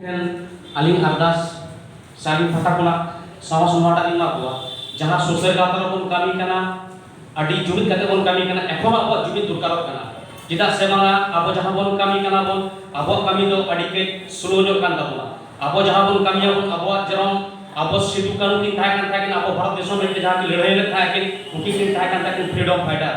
ᱴᱷᱮᱱ ᱟᱹᱞᱤᱧ ᱟᱨᱫᱟᱥ ᱥᱟᱨᱵᱷᱤᱠ ᱯᱟᱦᱴᱟ ᱠᱷᱚᱱᱟᱜ ᱥᱟᱶᱟᱨ ᱥᱚᱵᱷᱟ ᱴᱟᱜ ᱞᱤᱧ ᱮᱢᱟ ᱠᱚᱣᱟ ᱡᱟᱦᱟᱸ ᱥᱩᱥᱟᱹᱨ ᱜᱟᱶᱛᱟ ᱨᱮᱵᱚᱱ ᱠᱟᱹᱢᱤ ᱠᱟᱱᱟ ᱟᱹᱰᱤ ᱡᱩᱢᱤᱫ ᱠᱟᱛᱮ ᱵᱚᱱ ᱠᱟᱹᱢᱤ ᱠᱟᱱᱟ ᱮᱠᱷᱚᱱ ᱦᱚᱸ ᱟᱵᱚᱣᱟᱜ ᱡᱩᱢᱤᱫ ᱫᱚᱨᱠᱟᱨᱚᱜ ᱠᱟᱱᱟ ᱪᱮᱫᱟᱜ ᱥᱮ ᱵᱟᱝᱟ ᱟᱵᱚ ᱡᱟᱦᱟᱸ ᱵᱚᱱ ᱠᱟᱹᱢᱤ ᱠᱟᱱᱟ ᱵᱚᱱ ᱟᱵᱚᱣᱟᱜ ᱠᱟᱹᱢᱤ ᱫᱚ ᱟᱹᱰᱤ ᱠᱟᱹᱡ ᱥᱞᱳ ᱧᱚᱜ ᱠᱟᱱ ᱛᱟᱵᱚᱱᱟ ᱟᱵᱚ ᱡᱟᱦᱟᱸ ᱵᱚᱱ ᱠᱟᱹᱢᱤᱭᱟ ᱵᱚᱱ ᱟᱵᱚᱣᱟᱜ ᱡᱮᱨᱚᱠᱚᱢ ᱟᱵᱚ ᱥᱤᱫᱩ ᱠᱟᱹᱱᱦᱩ ᱠᱤᱱ ᱛᱟᱦᱮᱸ ᱠᱟᱱ ᱛᱟᱦᱮᱸ ᱠᱤᱱ ᱟᱵᱚ ᱵᱷᱟᱨᱚᱛ ᱫᱤᱥᱚᱢ ᱞᱟᱹᱜᱤᱫ ᱛᱮ ᱡᱟᱦᱟᱸ ᱠᱤᱱ ᱞᱟᱹᱲᱦᱟᱹᱭ ᱞᱮᱫ ᱛᱟᱦᱮᱸ ᱠᱤᱱ ᱩᱱᱠᱤᱱ ᱠᱤᱱ ᱛᱟᱦᱮᱸ ᱠᱟᱱ ᱛᱟᱦᱮᱸ ᱠᱤᱱ ᱯᱷᱨᱤᱰᱚᱢ ᱯᱷᱟᱭᱴᱟᱨ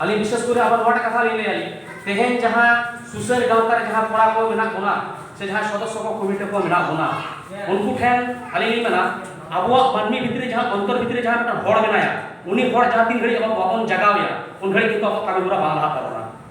ᱟᱹᱞᱤᱧ ᱵᱤᱥᱮᱥ ᱠᱚᱨᱮ ᱟᱵᱟᱨ ᱱᱚᱣᱟᱴᱟᱜ ᱠᱟᱛᱷᱟ ᱞᱤᱧ ᱞᱟᱹᱭᱟ ᱛᱮᱦᱮᱧ ᱡᱟᱦᱟᱸ ᱥᱩᱥᱟᱹᱨ ᱜᱟᱶᱛᱟ ᱨᱮ ᱡᱟᱦᱟᱸ ᱠᱚᱲᱟ ᱠᱚ ᱢᱮᱱᱟᱜ ᱵᱚᱱᱟ ᱥᱮ ᱡᱟᱦᱟᱸ ᱥᱚᱫᱚᱥᱥᱚ ᱠᱚ ᱠᱚᱢᱤᱴᱤ ᱠᱚ ᱢᱮᱱᱟᱜ ᱵᱚᱱᱟ ᱩᱱᱠᱩ ᱴᱷᱮᱱ ᱟᱹᱞᱤᱧ ᱞᱤᱧ ᱢᱮᱱᱟ ᱟᱵᱚᱣᱟᱜ ᱢᱟᱹᱱᱢᱤ ᱵᱷᱤᱛᱨᱤ ᱡᱟᱦᱟᱸ ᱚᱱᱛᱚᱨ ᱵᱷᱤᱛᱨᱤ ᱡᱟᱦᱟᱸ ᱢᱤᱫᱴᱟᱝ ᱦᱚᱲ ᱢᱮᱱᱟᱭᱟ ᱩᱱᱤ ᱦᱚᱲ ᱡᱟᱦᱟᱸ ᱛᱤᱱ ᱜᱷᱟᱹᱲᱤᱡ ᱟᱵᱚ ᱵᱟᱵᱚᱱ ᱡᱟᱜᱟᱣᱮᱭᱟ ᱩᱱ ᱜᱷᱟᱹᱲᱤᱡ ᱠᱤᱱᱛᱩ ᱟᱵᱚᱣᱟᱜ ᱠᱟᱹᱢᱤ ᱦᱚᱨᱟ ᱵᱟᱝ ᱞᱟᱦᱟᱜ ᱛᱟᱵᱚᱱᱟ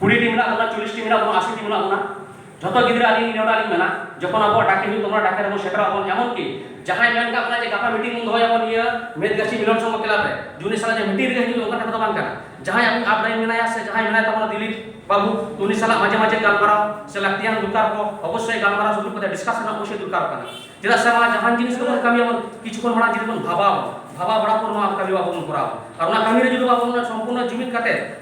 ᱠᱩᱲᱤ ᱴᱤ ᱢᱮᱱᱟᱜ ᱵᱚᱱᱟ ᱪᱚᱞᱤᱥ ᱴᱤ ᱢᱮᱱᱟᱜ ᱵᱚᱱᱟ ᱟᱥᱤ ᱴᱤ ᱢᱮᱱᱟᱜ ᱵᱚᱱᱟ ᱡᱚᱛᱚ ᱜᱤᱫᱽᱨᱟᱹ ᱟᱹᱞᱤᱧ ᱱᱮᱣᱛᱟ ᱞᱤᱧ ᱢᱮᱱᱟ ᱡᱚᱠᱷᱚᱱ ᱟᱵᱚ ᱰᱟᱠᱮ ᱦᱩᱭᱩᱜ ᱛᱟᱵᱚᱱᱟ ᱰᱟᱠᱮ ᱨᱮᱵᱚᱱ ᱥᱮᱴᱮᱨᱚᱜ ᱟᱵᱚᱱ ᱮᱢᱚᱱ ᱠᱤ ᱡᱟᱦᱟᱸᱭ ᱢᱮᱱ ᱠᱟᱜ ᱵᱚᱱᱟ ᱡᱮ ᱜᱟᱯᱟ ᱢᱤᱴᱤᱝ ᱵᱚᱱ ᱫᱚᱦᱚᱭᱟ ᱵᱚᱱ ᱤᱭᱟᱹ ᱢᱮᱫ ᱜᱟᱹᱪᱷᱤ ᱢᱤᱞᱚᱱ ᱥᱚᱝᱜᱷᱚ ᱠᱞᱟᱵ ᱨᱮ ᱡᱩᱱᱤ ᱥᱟᱞᱟᱜ ᱡᱮ ᱢᱤᱴᱤᱝ ᱨᱮᱜᱮ ᱦᱤᱡᱩᱜ ᱚᱱᱠᱟ ᱠᱟᱛᱷᱟ ᱫᱚ ᱵᱟᱝ ᱠᱟᱱᱟ ᱡᱟᱦᱟᱸᱭ ᱟᱵᱚ ᱟᱯ ᱰᱟᱭᱤᱱ ᱢᱮᱱᱟᱭᱟ ᱥᱮ ᱡᱟᱦᱟᱸᱭ ᱢᱮᱱᱟᱭ ᱛᱟᱵᱚᱱᱟ ᱫᱤᱞᱤᱯ ᱵᱟᱹᱵᱩ ᱩᱱᱤ ᱥᱟᱞᱟᱜ ᱢᱟᱡᱷᱮ ᱢᱟᱡᱷᱮ ᱜᱟᱞᱢᱟᱨᱟᱣ ᱥᱮ ᱞᱟᱹᱠᱛᱤᱭᱟᱱ ᱫᱚᱨᱠᱟᱨ ᱠᱚ ᱚᱵᱚᱥᱥᱳᱭ ᱜᱟᱞᱢᱟᱨᱟᱣ ᱥᱮ ᱫᱩᱲᱩᱵ ᱠᱟᱛᱮ ᱰᱤᱥᱠᱟᱥ ᱨᱮᱱᱟᱜ ᱚᱵᱚᱥᱥᱳᱭ ᱫᱚᱨᱠᱟᱨᱚᱜ ᱠᱟᱱᱟ ᱪᱮᱫᱟᱜ ᱥᱮ ᱢᱟ ᱡᱟᱦᱟᱱ ᱡᱤᱱᱤᱥ ᱜᱮᱵᱚᱱ ᱠᱟᱹᱢᱤᱭᱟ ᱵᱚᱱ ᱠᱤᱪᱷᱩ ᱠᱷᱚᱱ ᱢᱟᱲᱟᱝ ᱡᱩᱫᱤ ᱵᱚᱱ ᱵᱷᱟᱵᱟᱣ ᱟᱵᱚᱱ ᱵᱷᱟᱵᱟᱣ ᱵᱟᱲᱟ ᱯᱚᱨ ᱱᱚᱣᱟ ᱠᱟᱹᱢᱤ ᱟᱵᱚ ᱵᱚᱱ ᱠᱚᱨᱟᱣᱟ ᱟᱨ ᱚᱱᱟ ᱠᱟᱹᱢᱤ ᱨᱮ ᱡᱩᱫᱤ ᱵᱟᱵᱚᱱ ᱥᱚᱢᱯᱩᱨᱱᱚ ᱡᱩᱢᱤᱫ ᱠᱟᱛᱮ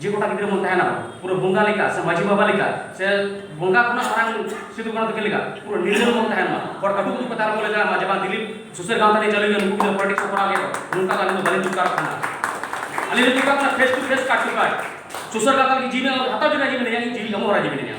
ᱡᱮ ᱜᱚᱴᱟ ᱜᱤᱫᱽᱨᱟᱹ ᱵᱚᱱ ᱛᱟᱦᱮᱱᱟ ᱯᱩᱨᱟᱹ ᱵᱚᱸᱜᱟ ᱞᱮᱠᱟ ᱥᱮ ᱢᱟᱹᱡᱷᱤ ᱵᱟᱵᱟ ᱞᱮᱠᱟ ᱥᱮ ᱵᱚᱸᱜᱟ ᱠᱷᱚᱱᱟᱜ ᱢᱟᱨᱟᱝ ᱥᱤᱫᱩ ᱠᱟᱹᱱᱦᱩ ᱛᱟᱹᱠᱤᱱ ᱞᱮᱠᱟ ᱯᱩᱨᱟᱹ ᱱᱤᱨᱞᱟᱹ ᱵᱚᱱ ᱛᱟᱦᱮᱱ ᱢᱟ ᱦᱚᱲ ᱟᱹᱰᱩ ᱠᱚ ᱠᱟᱛᱷᱟ ᱟᱞᱚ ᱵᱚᱱ ᱞᱟᱹᱭ ᱫᱟᱲᱮᱭᱟᱜ ᱢᱟ ᱡᱮ ᱵᱟᱝ ᱫᱤᱞᱤᱯ ᱥᱩᱥᱟᱹᱨ ᱜᱟᱶᱛᱟ ᱨᱮ ᱪᱟᱹᱞᱩᱭ ᱢᱮ ᱱᱩᱠᱩ ᱜᱤᱫᱽᱨᱟᱹ ᱯᱚᱞᱤᱴᱤᱠᱥ ᱠᱚ ᱠᱚᱨᱟᱣ ᱜᱮᱭᱟ ᱱᱚᱝᱠᱟ ᱫᱚ ᱟᱹᱞᱤᱧ ᱫᱚ ᱵᱟᱹᱞᱤᱧ ᱪᱩᱠᱟᱨᱚᱜ ᱠᱟᱱᱟ ᱟᱹᱞᱤᱧ ᱫᱚ ᱪᱩᱠᱟᱨᱚᱜ ᱠᱟᱱᱟ face to face cut to ᱠᱟᱴ ᱥᱩᱥᱟᱹᱨ ᱜᱟᱶᱛᱟ ᱞᱟᱹᱜᱤᱫ ᱡᱤᱣᱤ ᱦᱟᱛᱟᱣ ᱡᱚᱱᱟ ᱡᱤᱣᱤ ᱢᱮᱱᱟᱭᱟ ᱡᱤᱣᱤ ᱮᱢᱚᱜ ᱦᱚᱨᱟ ᱡᱤᱣᱤ ᱢᱮᱱᱟᱭᱟ